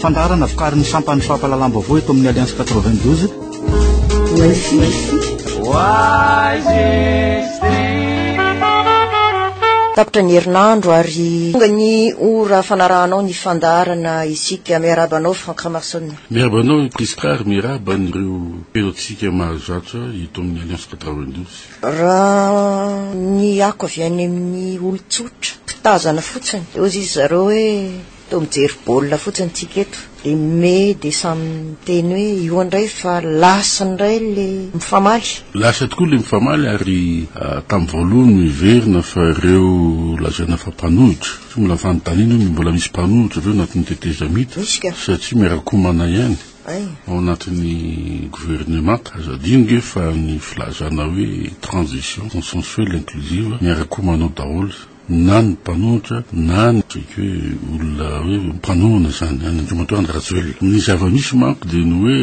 Fandaharana vokarin'ny sampan'ny fampahalalam-baovao eto amin'ny Alliance 92. Tapitra ny herinandro ary tonga ny ora fanarahanao ny fandaharana isika miaraba anao Franck Ramarson. Miaraba anao Prisca ary miaraba an'ireo mpihaino antsika mahazatra eto amin'ny Alliance 92. Raha ny ako avy any amin'ny olon-tsotra, mpitazana fotsiny, eo izy zareo hoe toa mijery baolina fotsiny tsika eto, dia me dia samy miteny hoe io indray fa lasa indray le mifamaly. Lasa tokoa le mifamaly ary ah, tamin'ny voalohany no heverina fa ireo lazaina fa mpanohitra, tsy mbola fanontaniana hoe mbola misy mpanohitra ve ao anatin'ny tetezamita satria miara-komana ihany. Ao anatin'ny governemanta, aza adino nge fa ny filazana hoe transition consensuelle inclusive miara koa manao daholo na ny mpanohitra na ny tsy hoe olona hoe mpanohana izany any andriamatoa Andry Rajoelina. Ny zava-misy manko dia ny hoe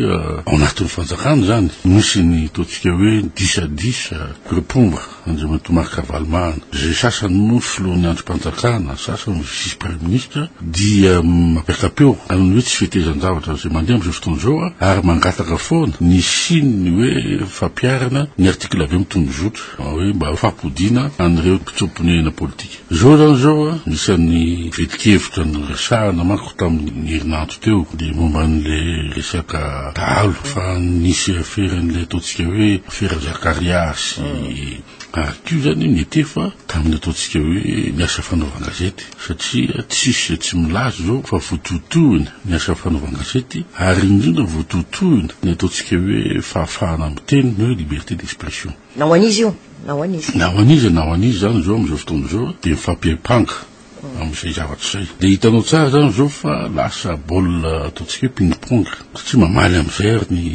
ao anatin'ny fanjakana izany misy ny ataontsika hoe disadisa, ireo mpomba. Andriamatoa Marc Ravalomanana, izay sasany moa filohan'ny andrim-panjakana, sasany vice praiminisitra, dia mampiaka-peo amin'ny hoe tsy fetezan-javatra izay mandeha amin'izao fotoana izao ary mangataka foana ny hisian'ny hoe fampiharana ny article vm tondrozotra, hoe mba fampodiana an'ireo mpitsoa-ponenana politika. Izao izany izao an, isan'ny fetin-kevitra noresahana manko tamin'ny herinandro teo dia momba an'ilay resaka dahalo fa nisy afera an'ilay ataontsika hoe afera Zakaria sy Arthur izany mety efa tamin'ny ataontsika hoe ny asa fanaovan-gazety satria tsisy tsy milaza izao fa vototohina ny asa fanaovan-gazety ary indrindra vototohina ny ataontsika hoe fahafahana miteny na hoe liberté d'expression. Na ho an'iza io na ho an'iza. Na ho an'iza na ho an'iza izany izao amin'izao fotoana izao dia mifampiampanga amin'izay zavatra izay. Dia hitanao tsara izany izao fa lasa baolina ataontsika hoe ping pong satria mamaly amin'izay ary ny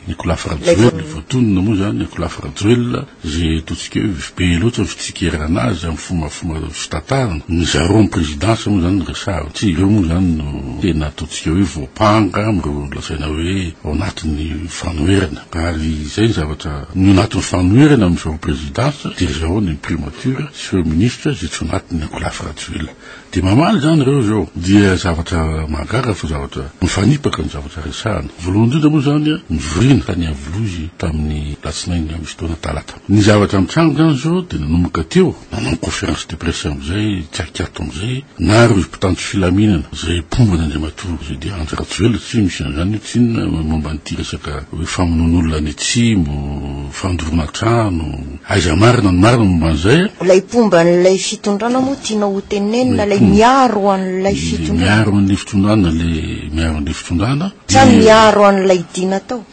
Nicolas Rajoelina ilay voatonona moa izany Nicolas Rajoelina izay ataontsika hoe be loatra ny fitsikerana azy amin'ny fomafoma fitantarana. Ny zareo amin'ny présidence moa izany no resahako satria ireo moa izany no tena ataontsika hoe voampanga amin'ireo lazaina hoe ao anatin'ny fanoherana. Ary izay ny zavatra ny anatin'ny fanoherana amin'izao prezidansa dia izao ny primature sy ireo ministra izay tsy anatin'ny ankolafy Rajoelina. Dia mamaly izany ireo izao. Dia zavatra mahagaga fa zavatra mifanipaka ny zavatra resahana. Voalohany indrindra moa izany nivoriana tany Iavolozy tamin'ny latsinainy misy taona talata. Ny zavatra mitranga izany izao dia nanomboka teo. Nanao conférence de presse amin'izay Kyakyat amin'izay na ireo mpitandro filaminana izay mpomba an'Andriamatoa Rudy Andry Rajoelina satria misy an'izany hoe tsinona momba an'ity resaka hoe famonoana olona any Atsimo, fandoroana trano, aiza marina ny marina momba an'izay a? Ilay mpomba an'ilay fitondrana moa tianao ho tenenina ilay miaro an'ilay fitondrana? Ilay miaro an'ilay fitondrana, ilay miaro an'ilay fitondrana. Sa ny miaro an'ilay Dina tao?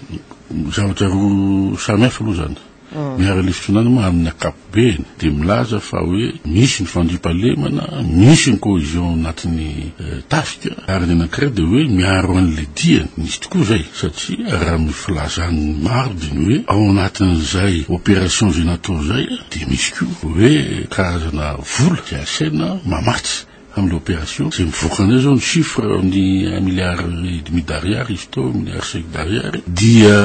Zavatra roa samy hafa aloha izany. Ny Haralefitra Nanoma amin' ny ankapobeny dia milaza fa hoe misy ny fandriampahalemana, misy ny cohesion anatin' ny tafika, ary ny anankiray dia hoe miaro an' ilay diany. Misy tokoa izay satria raha ny filazan' ny maro dia ny hoe ao anatin' izay operation izay natao izay dia misy koa hoe karazana vola izay asaina mamatsy amin' ilay operation. Izay mivoaka indray izao ny chiffre ny un milliard et demi d'ariary izy teo, un milliard cinq d'ariary dia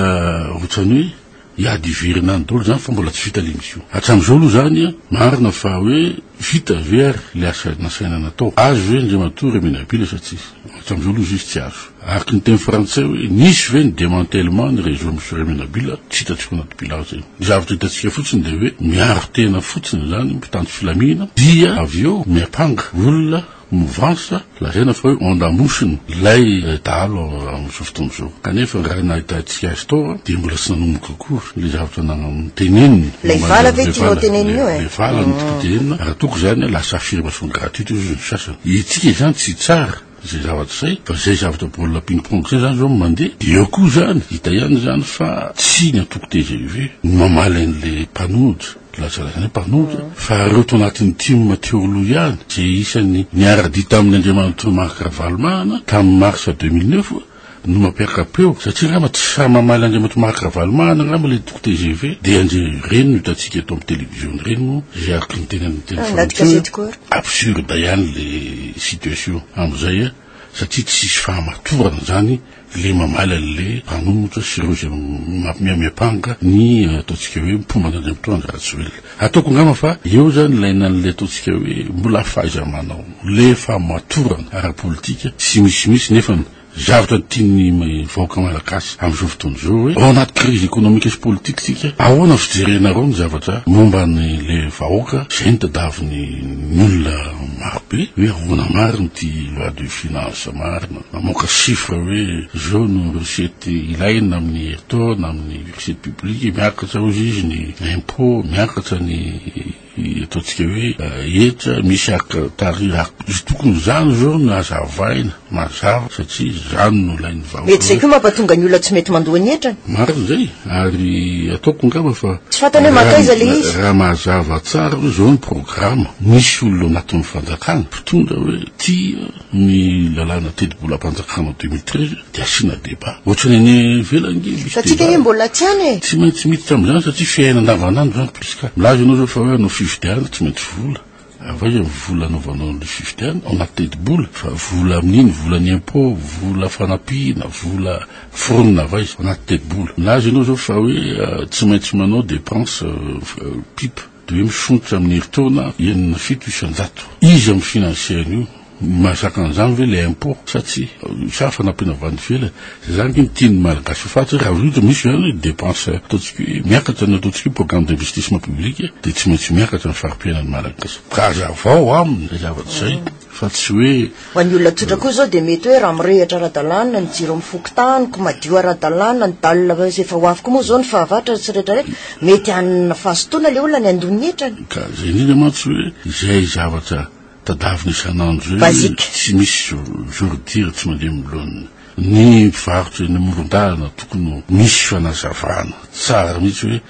ohatran' ny hoe. Hiady hiverina any daholo izany fa mbola tsy vita ilay mission. Hatramin'izao aloha izany an, marina fa hoe vita ve ary ilay asa nasaina natao? Azo ve Andriamatoa Remenabila sa tsia? Hatramin'izao aloha izy izy tsy azo. Araka ny teny frantsay hoe nisy ve ny demantèlement ny réseau Monsieur Remenabila? Tsy hitantsika ao anaty bilaogy izay. Ny zavatra hitantsika fotsiny dia hoe miaro tena fotsiny izany mpitandro filaminana dia avy eo miampanga olona Mouvance lazaina fa hoe onde amosiny ilay dahalo amin'izao fotoana izao. Kanefa raha nahitantsika azy tao dia mbola tsy nanomboka akory ilay zavatra noteneniny. Ilay vala ve tianao tenenina io e? Ilay vala no tiako tenenina. Raha tokony izany lasa affirmation gratuite hoy ny sasany. Hetsika izany tsy tsara izay zavatra izay fa izay zavatra baolina ping pong izay izany izao no mandeha. Dia eo koa izany hita ihany izany fa tsy ny antoko tgv no mamaly an'ilay mpanonja. Lazaina izany hoe mpanohitra fa ireo tao anatin'ny tim Matheolou ihany izay isan'ny niara-dia tamin'ny Andriamatoa Marc Ravalomanana tamin'ny mars 2009 no mampiaka-peo satria angamba tsy sahy mamaly an'Andriamatoa Marc Ravalomanana angamba ilay antoko tgv dia anjy ireny no hitantsika eto amin'ny televiziona ireny no izay araka ny tenan'ny teny ah, fanao absurde ihany ilay situation amin'izay a eh. satria tsy hisy fahamatorana izany le mamaly anle mpanomotra sy ireo izay miamiampanga ny ataontsika hoe mpomba an'Andriamatoa Andry Rajoelina. Ataoko angamba fa eo izany ilaina anle ataontsika hoe mbola fahaiza-manao, le fahamatorana ara-politika sy misimisy nefa ny zavatra tian'ny vahoaka malagasy amin'izao fotoana izao hoe ao anaty krizy ekonomika sy politika isika, ahoana fijerenareo ny zavatra momba an'le vahoaka izay ny tadavin'ny olona Maro be hoe ahoana marina ity loi de finance marina mamoaka chiffre hoe izao no recette ilaina amin'ny herintaona amin'ny recette publique miakatra hozy izy ny impot miakatra ny ataontsika hoe hetra misy ak tari izy tokony izany izao no hazavaina Mazava satria izany no ilain'ny vahoaka. Mety izay koa mampatonga ny olona tsy mety mandoa ny hetrany. Marina izay, ary ataoko angamba fa. Tsy fantany hoe mankaiza ilay izy. Raha mazava tsara hoe izao ny programa, misy olona ao anatin'ny fanjakana mpitondra hoe tia ny lalàna tetibolam-panjakana deux mille treize dia asiana débat. Ohatrany any ivelany ange misy débat. Fa tsika ange mbola tsy any e. Tsy maintsy miditra amin'izany satria fiainana andavanandro izany puisque milaza ianao izao fa hoe hanao fifidianana tsy maintsy vola. Avaina ny vola anaovanao ny fifidianana ao anaty tetibola fa vola amin'iny, volan'ny impôt, vola fanampiana, vola foronina avaiza ao anaty tetibola. Milaza ianao izao fa hoe tsy maintsy manao dépense pipe dia hoe mifonotra amin'ny herintaona enina, fito isan-jato. Iza mifinansie an'io? Mahazaka an'izany ve ilay impôt sa tsia? Sa fanampiana avy any ivelany? Izay izany ve no tian'ny Malagasy ho faty? Raha vita misy izany hoe dépense ataontsika hoe miakatra ny ataontsika hoe programme d'investissement public dia tsy maintsy miakatra ny fari-piainan'ny Malagasy. Ka hazavao aminy izay zavatra izay fa tsy hoe. Ho an'ny olona tsotra koa izao dia mety hoe raha mirehitra ara-dalàna ny jiro amin'ny fokontany, madio ara-dalàna ny dalina izay vao avy koa moa izao ny fahavatra sy rehetrarehetra, mety hanana fahazotoana ilay olona ny handoa ny hetrany. Ka izay indrindra mantsy hoe izay zavatra. Tadavina isan'andro eo Basique. tsy misy jour- jour dire tsy mandeha milona. Ny mpivarotra eny amoron-dalana tokony ho misy fanazavana tsara mihitsy hoe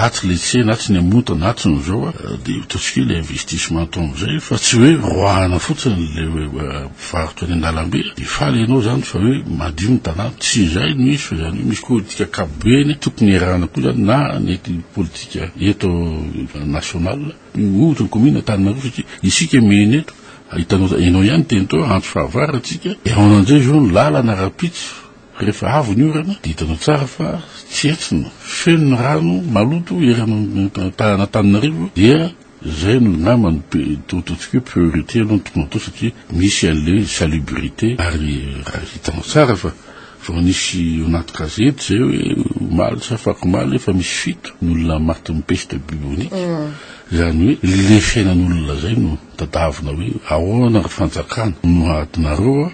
atsy ilay tsena, atsy ny amontana, atsy ny zao a, dia ataontsika hoe le investissement atao amin'izay fa tsy hoe roahana fotsiny ilay hoe mpivarotra eny an-dalambe dia faly ianao izany fa hoe madio ny tanàna. Tsy izay no izy fa izany hoe misy politika ankapobeny tokony iarahana koa izany na ny politika eto national Miova ny commune Antananarivo satria isika miaina eto, hitanao ianao ihany teny tao antso fahavalo antsika, haona amin'izay izao ny lalana rahampitso rehefa avy ny orana dia hitanao tsara fa tsy hetsina, feno ny rano maloto ery Antananarivo dia izay no ngamba no ataontsika hoe priorité aloha ny tokony hatao satria misy an'ilay salubrité ary hitanao tsara fa. Vao nisy eo anaty gazety izay hoe omaly sa afakomaly efa misy fito ny olona matin'ny peste bubonique. Mm. Izany hoe le fiainan'olona izay no tadavina hoe ahoana ny fanjakana no adinareo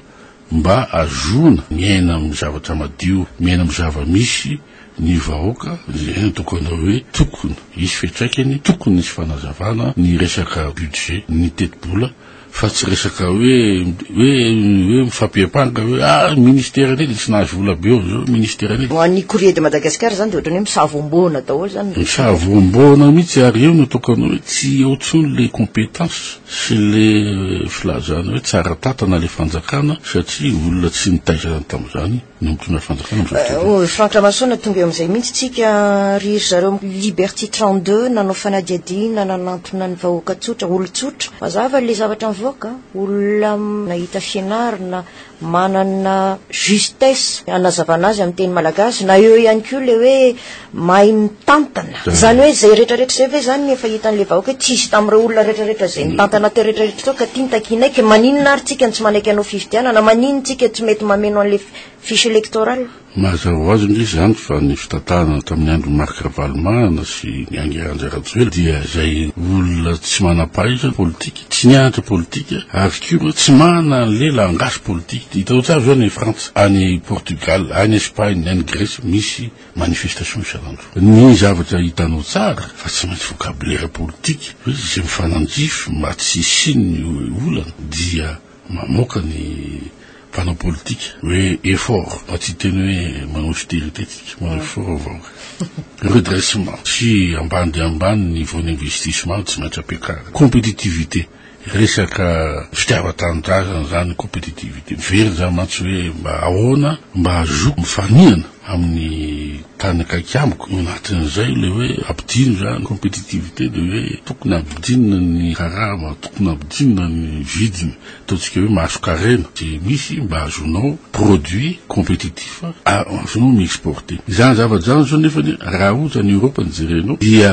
mba azoana miaina amin'ny zavatra madio, miaina amin'ny zava-misy ny vahoaka, izay no atao anao hoe tokony hisy fiantraikany, tokony hisy fanazavana ny resaka budget, ny tetibola fa tsy resaka hoe hoe hoe mifampiampanga hoe ah ministère anie de tsy nahazo vola be eo zao ministère anie ho an'ny courrier de Madagascar zany de ohatrany hoe misavombona daholo zany misavombona mihitsy ary eo no tokana hoe tsy eo tsony le compétence sy le euh, filazana hoe tsara tatana le fanjakana satria olona tsy nitaizana tamin'izany Nampitona ry fanjakana amin'izao fotoana izao. Ry Franck Ramasoana, tonga eo amin'izay mihitsy tsika ry ry zareo Liberty 32 nanao fanadihadiana nanantona ny vahoaka tsotra, olon-tsotra. Mazava ilay zavatra mivoaka, olona nahita fianarana, manana justesse hanazavana azy amin'ny teny malagasy. Na eo ihany koa ilay hoe mahay mitantana zany hoe zay retraretra zay ve zany efa hitan'le vahoaka hoe tsisy tamin'ireo olona retraretra zay mitantana teo retraretra teo ka tiany takianaiky maninona ary tsika no tsy manaiky anao fifidianana manino tsika tsy mety mameno an'le fiche electoral mazava ho azy indrisy zany fa ny fitantanana tamin'ny andro Marc Ravalomanana sy ny ange Andry Rajoelina dia zay olona tsy manam-pahaizana politika tsy nianatra politika ary koa tsy manana an'le langage politika hitanao tsara zao any Frantsa any Portugal any Espagne any Grèce misy Manifestation isan'andro. Ny zavatra hitanao tsara fa tsy maintsy vocabulaire politique hoe izay mifanandrify mba tsy hisian'ny olana dia mamoaka ny mpanao politika hoe effort mba tsy hiteny hoe manao austerité tsika manao effort ny vahoaka. Redressement sy ambany dia ambany niveau d'investissement no tsy maintsy ampiakarina. Competitivité. Resaka fitiavan-tanindrazana izany, compétitivité. Very izany mantsy hoe mba ahoana mba hahazoako mifanihana amin'ny tany akaiky amiko. Ao anatin'izay ilay hoe ampidino izany, compétitivité, dia hoe tokony hampidinina ny karama, tokony hampidinina ny vidiny, ataontsika hoe masonkarena izay misy mba hahazoanao produit compétitif. fa arzon ny exporte izany zavatra izany zao nefany raha ohatra ny Europe ny jerenao dia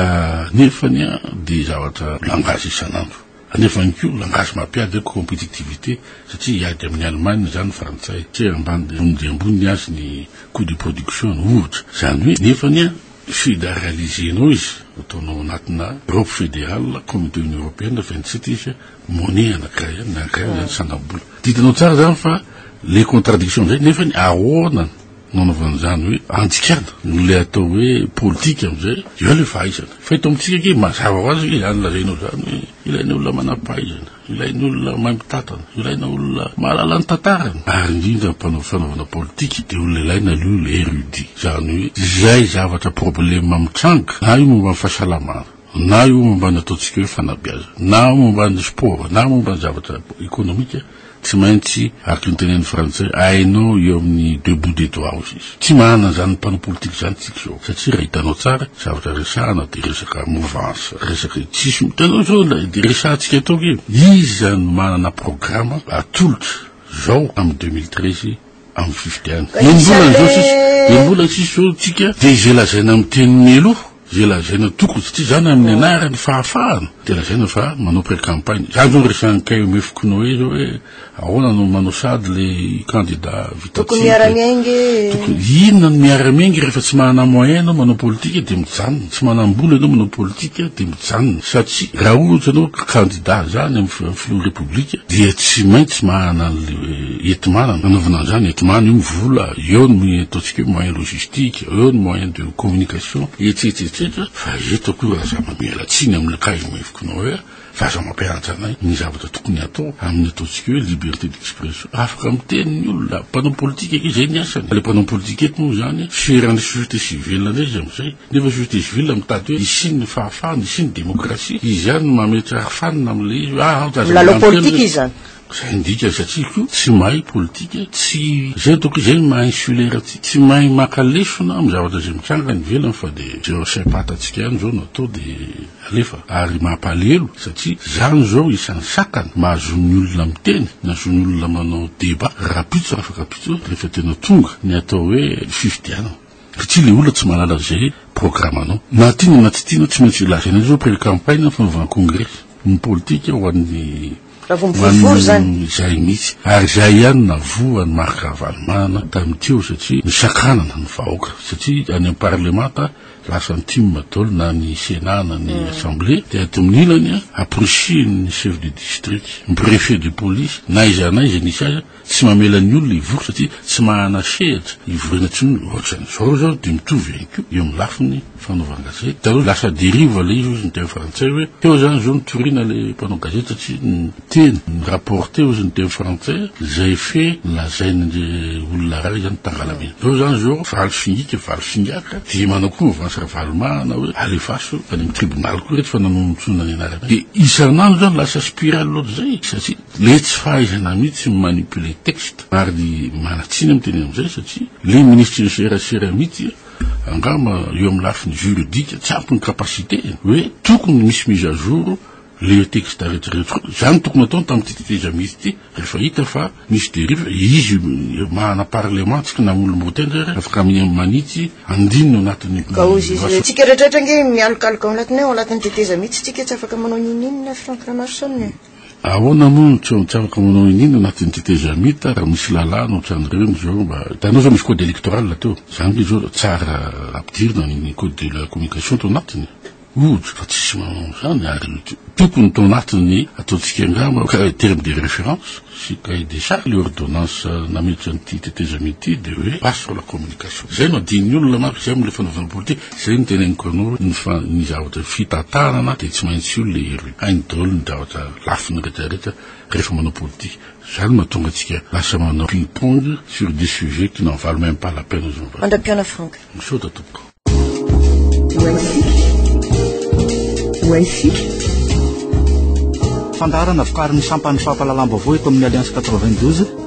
nefany a dia zavatra langage isan'andro nefany koa langage mampiady hoe compétitivité satria hiady amin'ny Allemagne izany ny frantsay satria ambany dia ambony dia ambony ny azy ny coût de production no ohatra izany hoe nefany a fédéraliser-nao izy ataonao anatina Europe fédérale communauté union européenne vingt sept izy Money anakay an, anakay an, zany sangam-bola. Tadidianao tsara zany fa le contradiction zay nefany ahoana no anaovana zany hoe andikana no le atao hoe politika amizay eo le fahaizana. Fa eto amitsika ange mazava ho azy zany lazainao zany hoe ilaina olona manam-pahaizana, ilaina olona mahay mitatana, ilaina olona mahalala ny tantara. Ary indrindra mpanao fanaovana politika de olona ilaina aloha le érudit. Zany hoe izay zavatra problème mitranga na io momba ny fahasalamana, na io momba ny ataontsika hoe fanabeazana, na momba ny sport, na momba ny zavatra ekonomika, tsy maintsy, araka ny tenenin'ny frantsay, hainao eo amin'ny deux bouts des doigts-o izy. Tsy manana an'izany mpanao politika izany isika izao, satria raha hitanao tsara, zavatra resahana dia resaka mouvance, resaka tsisy, hitanao izao ilay resahantsika eto aky, iza no manana programa atolotra izao amin'ny deux mille treize amin'ny fifidianana. Ny mbola ny zao sisa, ny mbola ny sisa zao tsika dia izay lazaina amin'ny teny mialoha, izay lazaina tokony satria izany amin'ny anarany fahafahana dia lazaina fa manao pré-campagne. Izany zao resahan'i KMF Kinoe zao hoe ahoana no manao sady le kandida vita tsika. Tokony miara-miainga e. Tokony inona no miara-miainga rehefa tsy manana moyen ianao manao politika dia mijanona, tsy manam-bola ianao manao politika dia mijanona satria raha ohatra ianao kandida izany amin'ny filohan'ny repoblika dia tsy maintsy manana an'le Hetmana no nanaovana an'izany, hetmana io vola, eo ny moyen ataontsika hoe moyen logistique, eo ny moyen de communication, etsetra etsetra, fa eto akory aza mamela tsiny amin'ny kay maivokinao hoe fa aza mampianatra anay ny zavatra tokony hatao amin'ny ataontsika hoe liberté d'expression, afaka miteny ny olona, mpanao politika anie izay ny asany, ilay mpanao politika eto moa izany fiheran'ny société civile indray izy amin'izay, nefa société civile mitady hoe hisian'ny fahafahana, hisian'ny démocratie, izy ihany no mametrahfanina amin'ilay izy hoe aah aza milalao politika izy izany. Zay ny dikany satria ko tsy mahay politika, tsy zay ataoko hoe zay ny maha insulaire aty, tsy mahay maka lesona amin'ny zavatra izay mitranga any ivelany fa de zay wasaim-patantsika ihany zao no atao de alefa ary mampalehelo satria zany zao isan'ny sakana mahazo ny olona miteny na zo ny olona manao débat rahampitso afaka mpitso rehefa tena tonga ny atao hoe fifidianana. Ry ty le olona tsy mahalala ze programanao. Na tiana na tsy tiana tsy maintsy lazaina zao pré campagne ny fanaovana congrès ny politika ho an'ny manino zay mitsy ary zay ihany navoa an'i Marc Ravalomanana tamin'ny teo satria nisakanana ny vahoaka satria any am parlemanta lasa ny tim dol na ny senat na ny assemblée dia dominilany a approchin ny chef de district ny prefet de police na iza na iza nisy aza Tsy mamela ny olona hivory satria tsy mahana sehatra hivoriana intsony ohatran'izao izao dia mitovy ihany koa eo amin'ny lafiny fanaovan-gazety. Hitanao lasa dérive ilay izy hozy ny teny frantsay hoe teo izany izao nitoriana ilay mpanao gazety satria niteny ni-rapporter hozy ny teny frantsay izay fe nolazain'ilay olona iray izany tangalamena. Izao izany izao valo singika valo singaka dia manao koa mouvance Ravalomahana hoe alefaso any amin'ny tribunal koa ireto fa nanonontsoana ny anarana dia isan'andro izany lasa spirale ohatr'izay satria Le tsy fahaizana mihitsy mi manipuler texte ary manatsiny am teny amzay satria le ministry ny serasera mihitsy angamba eo am lafiny juridique tsy ampy ny capacité eny hoe tokony misy mise à jour le texte rehetra rehetra koa zany tokony ataony tam ty tetezamita ity rehefa hita fa misy derive izy mahana parlement tsy kna olom roa tendry ary afaka mi manitsy andininy ao anatiny Kaozy tsika rehetra rehetra ange mialokaloka ao anatiny ao anatiny teteza mihitsy tsika tsy afaka manao ninoninona Franck Ramarson e. Ahoana moa no tsy ho mitsabaka manao iniana anatin'ny tetezamita raha misy lalàna ohatran'ireny izao mba, hitanao izao misy code électoral teo, izany ve izao tsara ampidirina ny code de la communication tao anatiny? Ohatra, fa tsisy manao an'izany ary tokony tao anatin'ny ataontsika angamba terme de référence sy cahier des charges ilay ordonnance nametra an'ity tetezamita ity dia hoe base sur la communication. Izay no adin'ny olona manko, izay moa ilay fanaovana politika. Zay no teneniko anao ny fa ny zavatra fitantarana dia tsy maintsy io le elo hainy daholo ny zavatra lafiny rehetra rehetra rehefa manao politika zay no mahatonga antsika lasa manao ping pong sur des sujets qui n'en valent même pas la peine zao mba Mandra-pihaona Franck. misaotra tompoko Fandaharana vokarin'ny sampan'ny fampahalalam-baovao eto amin'ny Alliance quatre-vingt-douze.